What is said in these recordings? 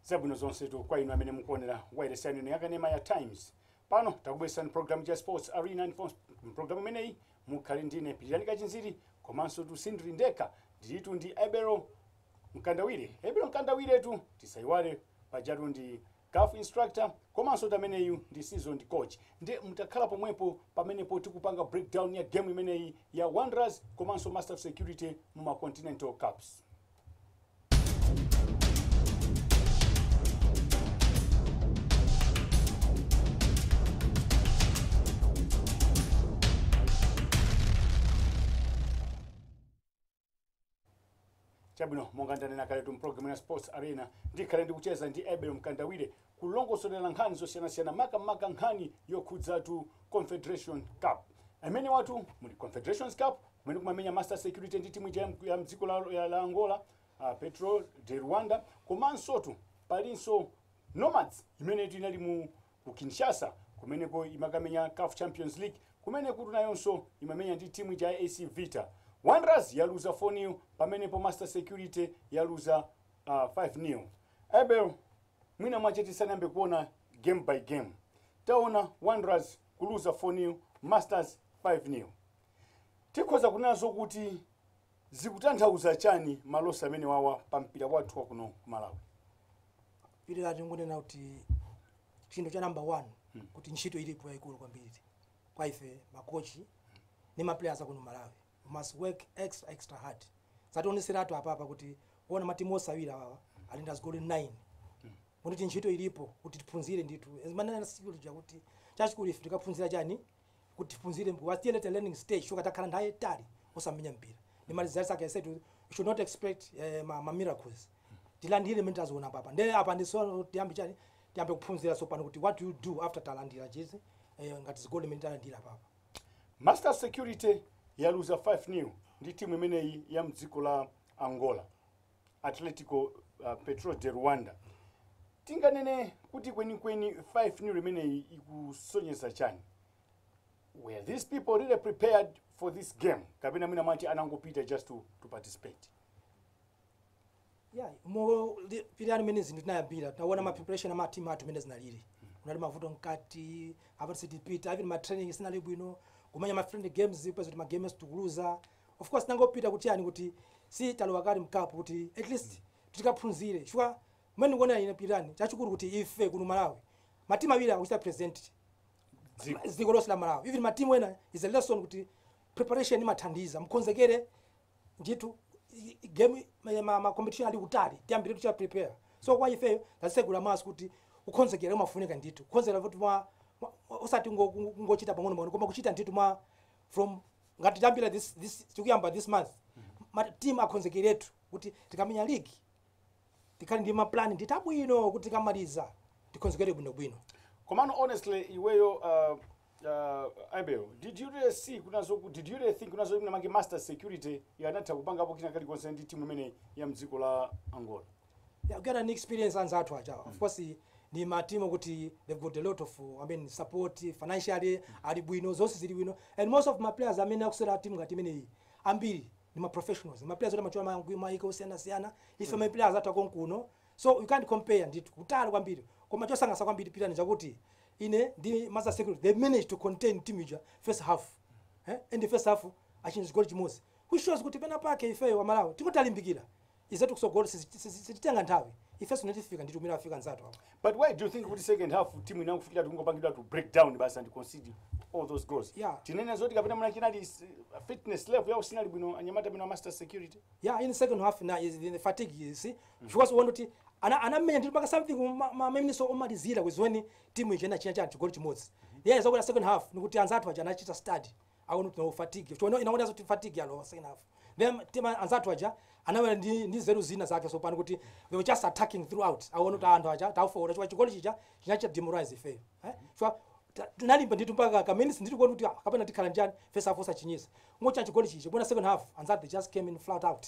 zabwino zonsetu kwa inu amene mukuonera wailesi yanu ino yakanema ya times pano takubweresani programu ya sports arena ndipo mprogramu imeneyi mukhale ndine pilirani kachinziri komansotu sindiri ndekha ndilitu ndi abel Mkandawire abel mkandawiretu tisaiwale pajatu ndi caf instructor komansotu ameneyu ndi seasoned coach nde mutakhala pomwepo pamenepo tikupanga breakdown ya game imeneyi ya wanderers komanso master security mu ma continental cups chabwino monga ndanena kaletu mpulogalamu ya sports arena ndikhale ndikucheza ndi abel mkandawire kulongosolera nkhani zosiyanasiyana makamaka nkhani yokhudzatu confederation cup amenewatu muli confederations cup kumene kumamenya master security ndi timu ija ya mk- ya mdziko la, ya- la angola uh, petro de luanda komansotu palinso nomads imenetu inali mu ku Kinshasa kumeneko imakamenya caf Champions League kumenekutu nayonso imamenya ndi timu ija ya AC Vita Wanderers yaluza 4-0 pamenepo Master Security yaluza uh, 5-0 Abel mwina mwache tisanayambe kuona game by game taona Wanderers kuluza 4-0 Masters 5-0 tikhoza kunena zokuti Zikutanthauza chani ma loss amenewawa pa mpira wathu wa kuno ku Malawi? Pilirani tingonena kuti chinthu cha number one kuti ntchito ilipo yayikulu kwambiri kwa ife makochi ndi maplayers akuno malawi We must work extra extra hard zationeseratu apapa kuti kuona matimu onse awiri awawa alandira zigoli 9 kuti ntchito ilipo kuti tiphunzire ndithu ndimanena tsiku lija kuti chachikulu ife tikaphunzira chani kuti tiphunzire we are still at a learning stage chifukwa takhala nthawi yaitali osamenya mpira ndi ma results ake i said we should not expect eh, ma, ma miracles tilandire mene taziona apapa nde apa ndiso tiyambe chani tiyambe kuphunzira tsopano kuti what do you do after talandira izi eh, ngati zigoli mene talandira apapa master security yaluza 5 nil ndi timu imeneyi ya mdziko la angola Atlético uh, Petro de Luanda tinganene kuti kwenikweni 5 nil imeneyi ikusonyeza chani were these people really prepared for this game kapena mwina mwati anangopita just to, to participate yeah mo pilirani mene zinthu zinayambira taona ma preparation ama team athu mene zinalili kunali mavuto mkati apa ati sitipita even ma training sinali bwino kumenya ma friendly games peza kuti ma games tikuluza Of course tinangopita kuti chani kuti si talowa kale mcup kuti at least tikaphunzire chifukwa mmene ndikuonera ine Pilirani chachikulu kuti ife kuno Malawi matimu awiri akuchita present Dziko. dziko lonse la Malawi even matimu ena is a lesson kuti preparation imathandiza mkonzekere ndithu i- i- game ma- ma, ma competition ali kutali tiyambiretu kuchita prepare so kwa ifeyo tasegula maso kuti ukonzekera umafunika ndithu ukonzekera kuti mwa mwa- osati ngo- ngo- ngochita pang'ono pang'ono koma kuchita ndithu mwa from ngati tiyambira this, this tikuyamba this month ma team akhonzekeretu kuti tikamenya league tikhale ndi maplan ndithu abwino kuti tikamaliza tikhonzekere bwinobwino komano honestly iweyo uh, uh, abel did you really see kunazo ku- did you really think kunena zokuti mwinamwake master security ikanatha kupangapo kina kalikonse ndi timu imene ya mdziko la angola Yeah, get an experience anzathu aja mm. of course ndi matimu kuti they've got a lot of I mean, support financially mm. ali bwino zonse zili bwino and most of ma players amene akusewera timu ngati imeneyi ambiri ndi ma professionals ma players oti amachoka ma- maiko osiyanasiyana ife mm. ma players athu akonkuno so you can't compare ndithu kutali kwambiri koma chosangalatsa kwambiri Pilirani nchakuti ine ndi master security they managed to contain team ija first half eh? and the first half achinya chigoli chimodzi which shows kuti pena pake ifeyo wa malawi tikutalimbikira izetu kusogolo sizi- sizi- sititenga nthawi ifeso nde tifika ndithu mmene afika anzathu apo But why do you think kuti second half timu inakafikira poti kungopangiratu break down basi and concede all those goals? Yeah. Tinene zoti kapena mwina chinali s- fitness level yao sinali bwino anyamata bwino master security. ya in second half na is in the fatigue you see chifukwaso uona kuti ana- anamenya ndithu mpaka something ma- ma- maminitsi omalizira is when timu ija inachinya chani chigoli chimodzi yeah zakuti second half nikuti anzathu aja anachita study aona fatigue chono inaona zoti fatigue yalowa second half then timu ya anzathu aja anabwera ndi ndi nzeru zina zake so pano kuti they were just attacking throughout aona kuti anthu aja tafooka chifukwa chigoli chija chinachita demoralize ife eh chifukwa tinalimba ndithu mpaka ka minutes ndithu kuti ah, kapena tikhala njani first half osachinyisa ngocha chigoli chija bona second half anzathu they just came in flat out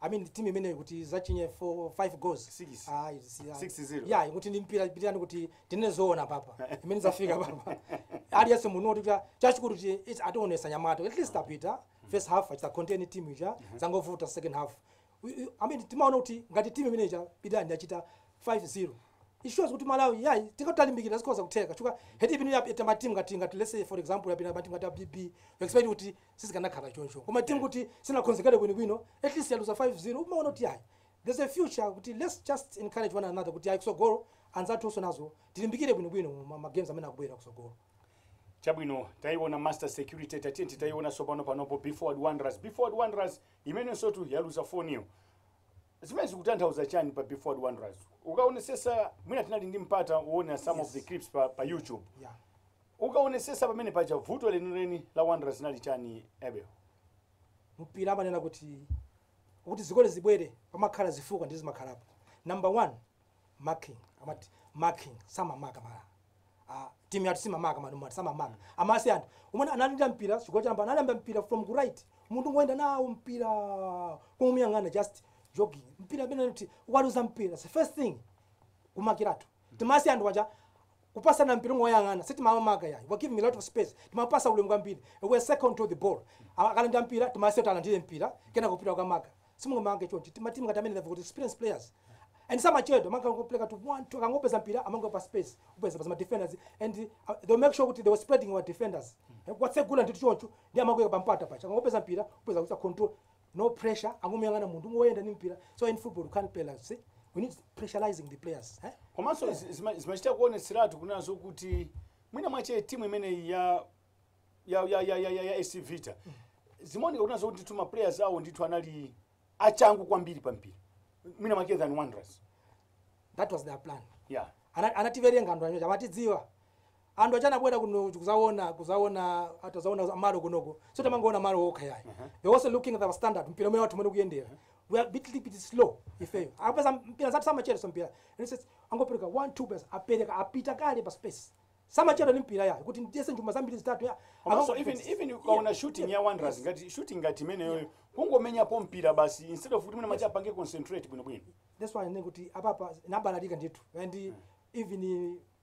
I mean team imeneyo kuti izachinye 4 5 goals. Six. Ah, it's yeah. 6-0. Yeah, kuti ndi mpira Pilirani kuti tinene zoona papa. Imene zafika papa. Aliyense muno kuti cha- chachikulu kuti it's ationesa anyamatawo. At least apita first half achita contain team ija zangovuta second half. We- we- I mean timaona kuti ngati team imene ija Pilirani yachita 5-0. It shows kuti Malawi yeah tikatalimbikira zikhoza kutheka. Chifukwa had it been yapita ma team ngati ngati let's say for example yapita ma team ngati ya BB. You expect kuti sizikanakhala choncho koma timu yoti sinakonzekere bwinobwino at least yaluza 5-0 umaona kuti ayi there's a future kuti let's just encourage one another kuti ayi kusogolo anzathunso nazo tilimbikire bwinobwino ma- ma games amene akubwera kusogolo chabwino taiona master security tatiyeni tiione sopano panopo be forward wanderers be forward wanderers imenensotu yaluza 4 nil zimene zikutanthauza chani pa be forward wanderers ukaonesesa mwina tinali ndi mpata uone some of the clips pa, pa youtube yeah. Ukaonesesa pamene paja vuto lenileni la wanderers linali chani Abel? mpira amanena kuti kuti zigoli zibwere pamakhala zifukwa ndi zimakhalapo number one marking amati marking samamaka ma ah, timu yathu simamaka manumati samamaka amasiya anthu amene ali ndi mpira chigoli choyamba analanda mpira from ku right munthu kungoyenda nawo mpira kumuyang'ana just jogging mpira amene kuti ukaluza mpira the first thing kumakiratu Timasiya anthu aja kupasana mpira kungoyang'ana sitimamaka yayi we're giving a lot of space timapasa ulemu kwambiri we're second to the ball A- akalandira mpira timasiya kuti alandire mpira kenako kupita kukamaka simungamake choncho timatimu ngati amene they've got experienced players and samachedwa akangopereka to one two akangopeza mpira amango pa space kupeza pazima defenders and uh, they make sure kuti they were spreading our defenders Eh, kuwatsegula ndithu choncho ndiye amangoika pampata paja akangopeza mpira kupeza kuti control no pressure angomuyang'ana munthu kungoyenda ndi mpira so in football you can't play like this we need pressurizing the players eh? komanso zi- zima- zimachita kuonetseratu kunena zokuti mwina mwache timu imeneyi ya ya ya ya ya, ya, ya AC Vita zimaoneka kunena zokuti ndithu ma players awo ndithu anali achangu kwambiri pa mpira mwina mwache than Wanderers that was their plan yeah Ana- anativerenga anthu aja amatidziwa Anthu aja anabwera kuno kuzaona kuzaona atazaona malo kunoko. Samangoona malo okha yayi. Uh -huh. They also looking at our standard mpira uwu wathu mmene ukuyendera. Uh -huh. We are bit bit slow ifeyo. Akapeza mpira anzathu samachedwa ndi mpira. And says angopereka 1 2 pass apereka apita kale pa space. Samachedwa ndi mpira yayi kuti ndiyese njomba zambiri zitatu ya. Also even even ukaona yeah. shooting yeah. ya Wanderers yes. ngati shooting ngati imeneyoyo yeah. kungomenyapo mpira basi instead of kuti mwana yes. mwache apange concentrate bwino bwino. That's why ndinene kuti apapa anabalalika ndithu. And mm. even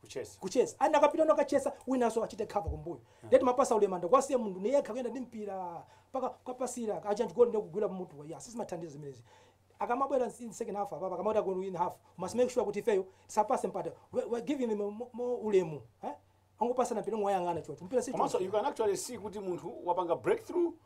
Kuchesa. kuchesa wina akapita kukachesa winanso achite cover kumbuyo ndiye timapasa ulemu ndi kuwasiya munthu ali yekha kuyenda ndi mpira mpaka kuwapatsira aja chigoli ndiye kugwira mutu ayi sizimathandiza zimenezi akamabwera in second half apa akamabwera ku second half we must make sure kuti ifeyo tisawapase mpata we, we giving them mo- mo ulemu eh angopasana mpira kungowayang'ana choncho mpira si komanso choncho. you can actually see kuti munthu wapanga breakthrough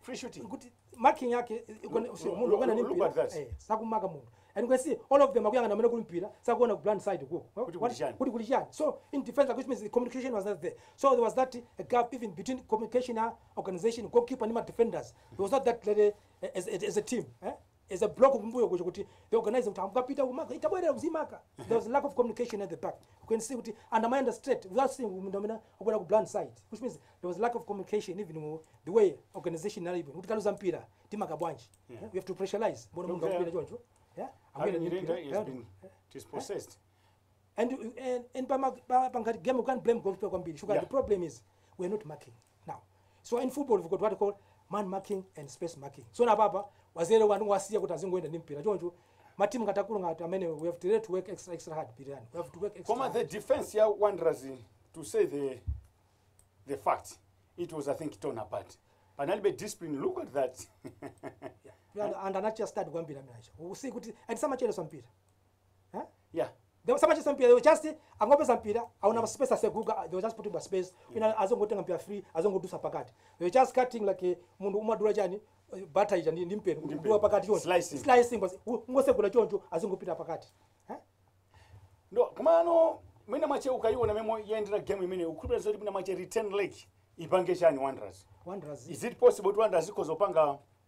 free shooting kuti marking yake eh, eh, kone- Look- usi- look- munthu akuyenda ndi look mpira, at that. eh, sakumaka munthu and we see all of them akuyang'ana amene kuli mpira sakuona ku blind side ko Kuti kuli chani? kuti kuli chani so in defense which means the communication was not there so there was that eh, gap even between communication ah, organization goalkeeper and my defenders there was not that lady eh, as, as, as a team eh? as a block kumbuyo kuja kuti they organize kuti ukapita kumaka utabwerera kuzimaka there was lack of communication at the back you can see kuti anthu amayenda straight without seeing munthu amene akubwera ku blind side which means there was lack of communication even mu- the way organization inalibe kuti tikaluza mpira timaka bwanji Yeah. we have to pressurize umaona munthu Don't akubwera care. choncho yeah Alan akubwera ndi Nyirenda mpira. has Yeah. been dispossessed. and and, and pama pa- pangati game you can't blame goalkeeper kwambiri sugar Yeah. the problem is we are not marking now so in football we've got what we call man marking and space marking so na papa wazere wanu wasiya kuti azingoenda ndi mpira choncho matimu ngatakulu ngati amene we have to really to work extra extra hard pirani we have to work extra Koma hard. the defense ya Wanderers to say the the fact it was I think torn apart. Panalibe discipline look at that. Yeah, and anacha start kwambiri amenacha usi kuti and samacheleso mpira Eh? Yeah. They were samachedwetsa mpira, they were just angopeza mpira, aona pa space aseguka, they were just putting pa space. Ena azingotenga mpira free, azingodusa pakati. They were just cutting like eh, munthu umadula chani eh, butter ija ndi ndi mpeni kudutsa pakati choncho. Slicing. Slicing basi kungosegula choncho azingopita pakati. Eh? nde komano mwina mwache ukayiona momwe yayendera game imeneyi ukukhulupira zoti mwina mwache return leg ipange chani wanderers Wanderers. is it possible kuti wanderers ikhoza kupanga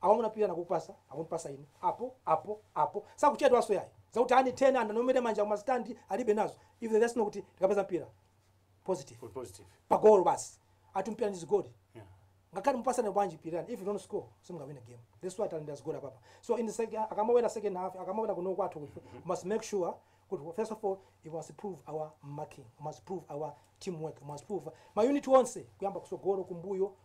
Awamuna pita akakupasa akumpasa inu apo apo apo sakuchedwanso yayi zakuti anthu andiombere m'manja kuma stand alibe nazo if they just know kuti tikapeza mpira positive We're positive. pagolo basi ati mpira ndi zigoli Yeah. ngakhale mupatsane bwanji pirirani if you don't score simungawine game that's why talanda zigoli apapa so in the second akamawera second half akamawera kuno kwathu kufe must make sure kuti first of all we must improve our marking we must improve our teamwork we must improve ma unit onse kuyamba kutsogolo kumbuyo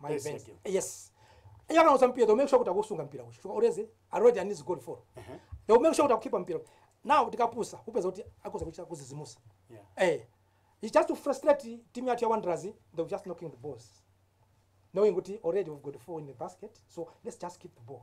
my Yes, best thank yes iye kana usampira they will make sure kuti akusunga mpira uchi chifukwa always already and is good for they will make sure kuti akukhipha mpira now tikapusa kupeza kuti akoza kuchita kuzizimusa Yeah. eh it's just to frustrate team yathu ya wanderers they were just knocking the balls knowing kuti already we've got four in the basket so let's just keep the ball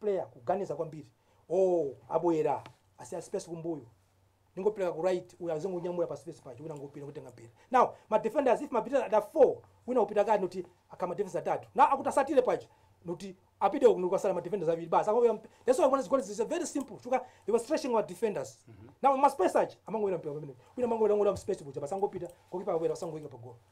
player kuganiza kwambiri ooh abwera asiya space kumbuyo n'kungopereka ku right uyo azingonyamula pa space paja wina n'kupita kutenga mpira now ma defenders if mapita ada 4 wina upita kati nuti akhala ma defenders atatu na akutsatire paja nuti apite uku nukasala ma defenders abiri basi akoya that's why one goals is very simple chifukwa they were stretching our defenders now ma space aja amangowera mpira pamene wina amangowera n'kulowa space kuja basi angopita kokipa abwera angoyika pa goal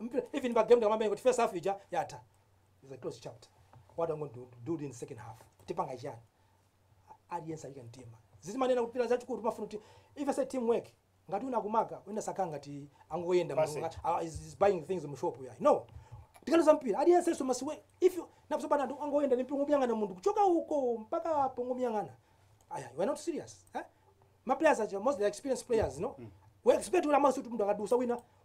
Mpira even pa game ndikamamenya kuti first half ija yatha. It's a closed chapter. What I'm going to do in second half. Tipanga chiyani? Aliyense ayika mtima. Ndizimanena kuti Pilira chachikulu pamafuna kuti if I say teamwork ngati wina akumaka wina sakumaka ngati angoyenda Pass it. mulunga uh, is, is buying things mu shop ya. No. Tikaluza mpira aliyense must work if you akusambana munthu angoyenda n'kumangomuyang'ana munthu kuchoka uko mpaka pano kumuyang'ana. Aya, you are not serious. Eh? Ma players are mostly experienced players, no? We expect umanena kuti munthu akadusa wina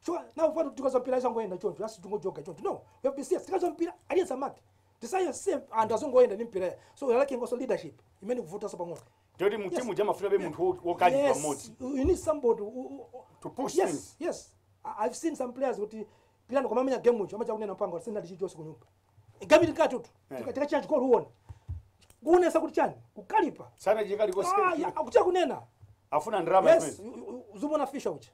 Sure, now for to go mpira izangoenda choncho, just to go joga choncho. No, we have to see sikazo mpira aliyense amake. Tisayo same and azongoenda ni mpira. So we are lacking also leadership. Imene kuvuta so pang'ono. Toti mu timu jama funa be munthu wo- wokali Yes, pamodzi. you you need somebody who- who- who- To push yes, things. Yes, I- I've seen some players kuti pilano koma amenya game ucho amacha kunena mpango sina ndichi chose kunyumba. Game ili katu tu. Eh. Tika tika change call uone. Kunesa kuti chani? Kukalipa. Sana jikali kwa Ah, ya, siku. akucha kunena. Afuna ndrama Yes, kwenzi. you- you- you- zumona fisha ucha.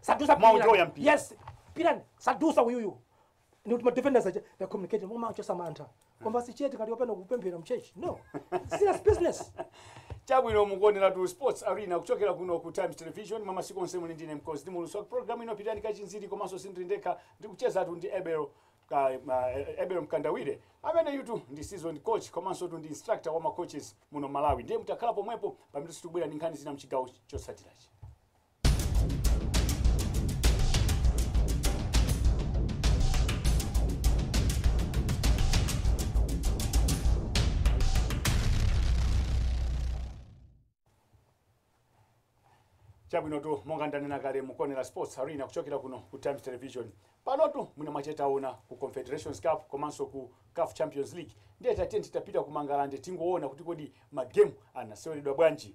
sadusa Mwamenya mpira. yes pirani sadusa uyuyu nikuti madefenders aja they communicate koma aja samayankhula kungokhala chete ngati akupita kupemphera mtchalitchi no serious business chabwino mukuonera tu sports arena kuchokera kuno ku times television mwamasiku onse muli ndine nkosi ndi muulutsi wa programu ino pilirani kachinziri komanso sindili ndekha ndikuchezatu ndi abel ka- ma- abel mkandawire amene iyeyutu ndi seasoned coach komanso tu ndi instructor wa macoaches muno malawi ndiye mutakhala pomwepo pamene tikubwera ndi nkhani zina mchigawo chotsatirachi chabwinotu monga ndanena kale mukuonera sports arena kuchokera kuno ku times television panotu mwina mwachete tione ku confederations cup komanso ku caf champions league ndiye tatiyeni tapita ku mangalande tingoona kuti kodi magemu anaseweredwa bwanji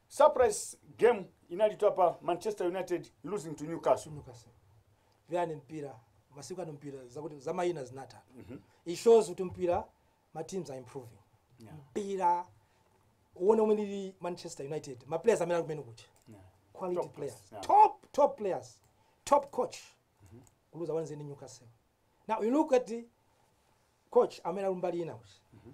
Surprise game inalitu apa Manchester United losing to Newcastle. Newcastle. Vyani mpira masiku ano mpira zakuti za maina zinatha. Mm -hmm. It shows kuti mpira ma teams are improving. Yeah. Mpira uone umene ndi Manchester United ma players amene akumene kuti. Yeah. Quality top players. Yeah. Top top players. Top coach. Mm -hmm. Kuluza wanze ni Newcastle. Now you look at the coach amene ali mbali ina kuti. Mm -hmm.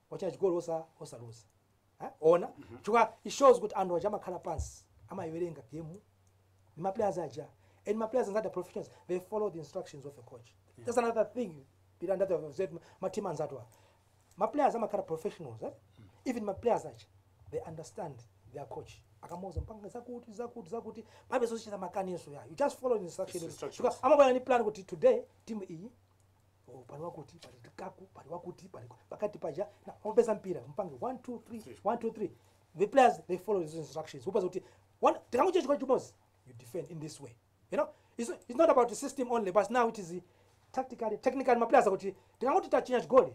wachinya chigoli osa osaluza eh? ona chifukwa it shows kuti anthu aja amakhala pansi amayiwerenga game ni maplayers aja and maplayers anzati are professionals they follow the instructions of a coach that's another thing pilira ndachita observe mateam anzatu awa maplayers amakhala professionals eh? even maplayers aja they understand their coach akamuuza upange zakuti zakuti zakuti palibe zochita makani iyayi you just follow the instruction Instructions. Chifukwa amabwera ni plan kuti today team iyi Oh, pali wakuti pali kaku pali wakuti pali pakati paja nawo peza mpira mpange 1 2 3 1 2 3 the players they follow these instructions upeza kuti oh tikangochinya chigoli chimodzi you defend in this way you know it's, it's not about the system only but now it is tactically technically ma players akuti tikangoti tachinya chigoli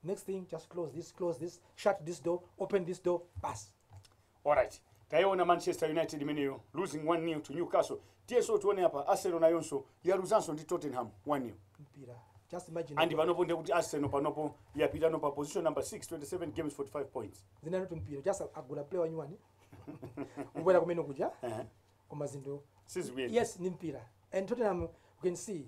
next thing just close this close this shut this door open this door basi alright tayiona manchester united imeneyo losing 1 nil to newcastle tiyenso tione apa arsenal nayonso yaluzanso ndi tottenham 1 nil mpira just imagine and panopo ndiye kuti arsenal panopo yapitano pa position number 6 27 games 45 points zina kuti mpira just agula player wanyuwani kubwera kumene kuja koma zinthu sizikuyenda yes ndi mpira and tottenham you can see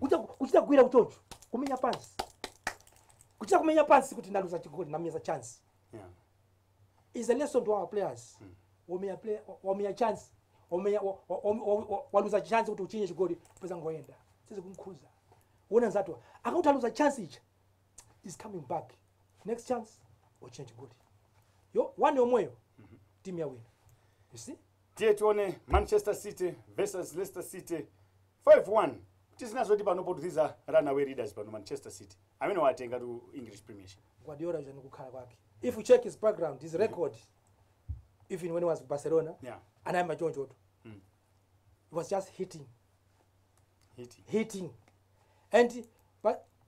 kuchita kuchita kugwira chonchi kumenya pansi kuchita kumenya pansi kuti ndaluza chigoli ndamenya chance Yeah. is a lesson to our players wamenya play wamenya chance wamenya wa- wa- wa- wa- wa- waluza chance kuti uchinye chigoli peza angoyenda sizikumkhudza uwona anzathuwa akati aluza chance ichi is coming back next chance uchinye chigoli yomweyo yomweyo timu yawina you see tiye tione manchester city versus leicester city 5 1 tizina zoti panopotu these are run away readers pano manchester city amenewa atengatu english premiership. guardiola uja ndikukhala kwake if you check his background his record even when he was barcelona Yeah. anayamba chonchotu he was just hitting hitting hitting and but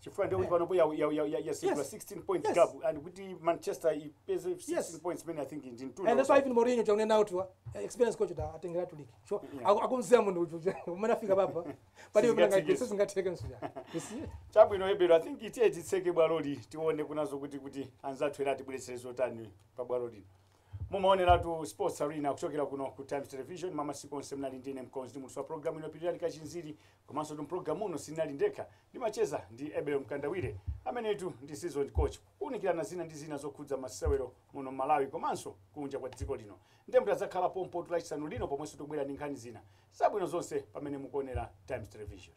chifukwa ndiye kuti panopo ya- ya- ya- ya- yatsegula Yes. 16 points Yes. gap and kuti manchester ipeze 16 Yes. points imene i think ndi mtunda and that's why even Mourinho akunena kuti wa experience coach ta atengera to league so Yeah. aku- akudziwa munthu uyu mmene afika apapa pali Sizingatheke. mnanga sizingatheke mnzanga you see chabwino ebel i think tiye titseke bwaloli tiwoneke nazo kuti kuti anzathu ena atibweretsere zotani pa bwalo lino mumaoneratu sports arena kuchokera kuno ku times television mwa masiku onse munali ndi ine mkonzi ndi muulutsi wa programu ino pilirani kachinziri komansotu mpulogalamu uno sinali ndekha ndimacheza ndi ebel mkandawire amenetu ndi seasoned coach kuunikirana zina ndi zina zokhudza masewero muno m'malawi komanso kunja kwa dziko lino ndiye mutadzakhala pompo tu lachisanu lino pomwenso tikubwera ndi nkhani zina zabwino zonse pamene mukuonera times television